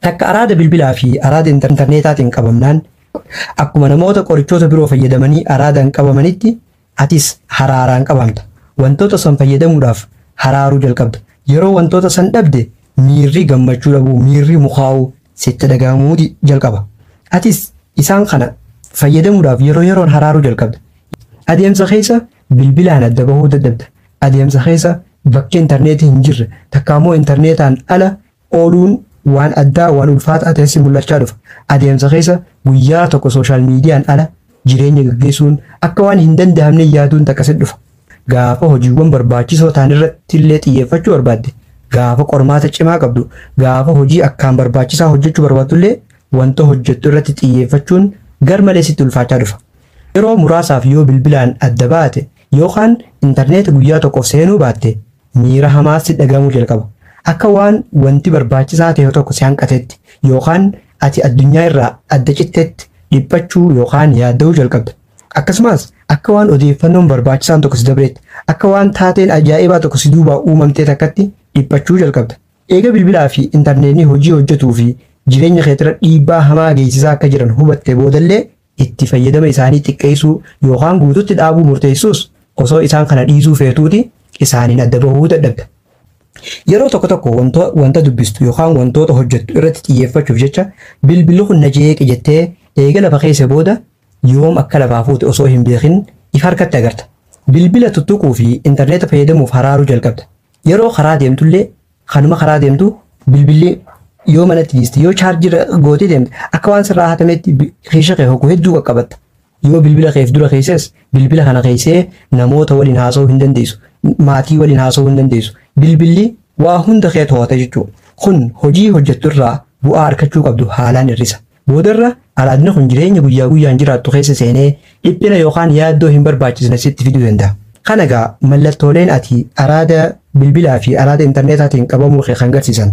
Takka araada bilbilaa fi araada intarneetaatiin qabamnaan akkuma namoota qorichoota biroo fayyadamanii araadaan qabamanitti atis haraaraan qabamta. Wantoota san fayyadamuudhaaf haraaruu jalqabda. Yeroo wantoota san dhabde miirri gammachuu dhabuu, miirri mukaa'uu sitti dhaga'amuu jalqaba. Atis isaan kana fayyadamuudhaaf yeroo yeroon haraaruu jalqabda. Adeemsa keessa bilbilaan adda bahuu dadhabda. Adeemsa keessa bakki intarneetii hin jirre takka ammoo intarneetaan ala ooluun waan addaa, waan ulfaataa ta'ee si mul'achaa dhufa. Adeemsa keessa guyyaa tokko sooshaal miidiyaan ala jireenya gaggeessuun akka waan hin danda'amne yaaduun takka sitti dhufa. Gaafa hojiiwwan barbaachisoo ta'an irratti illee xiyyeeffachuu barbaadde, gaafa qormaata cimaa qabdu, gaafa hojii akkaan barbaachisaa hojjechuu barbaaddu illee wanta hojjettu irratti xiyyeeffachuun garmalee sitti ulfaachaa dhufa. Yeroo muraasaaf yoo bilbilaan adda baate yookaan intarneeta guyyaa tokkoof seenuu baatte Miira hamaa sitti dhaga'amuu jalqaba. Akka waan wanti barbaachisaa ta'e tokko si hanqatetti yookaan ati addunyaa irraa adda cittetti dhiphachuu yookaan yaadda'uu jalqabda. Akkasumas, akka waan odeeffannoon barbaachisaan tokko si dabreetti, akka waan taateen ajaa'ibaa tokko si duubaa uumamtee takkatti dhiphachuu jalqabda. Eega bilbilaa fi intarneetni hojii hojjetuu fi jireenya keetirra dhiibbaa hamaa geessisaa akka jiran hubattee boodallee itti fayyadama isaanii xiqqeessuu yookaan guututti dhaabuu murteessuus osoo isaan kana dhiisuu feetuuti isaaniin adda bahuu dadhabda. Yeroo tokko tokko wanta, wanta dubbistu yookaan wantoota hojjettu irratti xiyyeeffachuuf jecha bilbilli kun na jeeqe jettee eega lafa keesse booda yoom akka lafaa fuute osoo hin beekin if harkatti agarta. Bilbila tuttuquu fi intarneeta fayyadamuuf haraaruu jalqabda. Yeroo karaa deemtullee Kanuma karaa deemtu bilbilli yoo manatti dhiiste yoo chaarjii irra gootee deemte akka waan sirraa hatametti bi- keessa kee hoggu hedduu qaqqabatta. Yoo bilbila keef dura keesses bilbila kana keessee namoota waliin haasa'uu hin dandeessu. Maatii waliin haasa'uu hin dandeessu. Bilbilli waa hunda kee to'ata jechuudha. Kun hojii hojjettu irraa bu'aa argachuu qabdu haalaan hir'isa. Boodarra araadni kun jireenya guyyaa guyyaan jiraattu keessa seenee dhiphina yookaan yaaddoo hin barbaachisne sitti fiduu danda'a. Kana egaa mallattooleen ati araada bilbilaa fi araada interneetaatiin qabamuu kee kan garsiisan.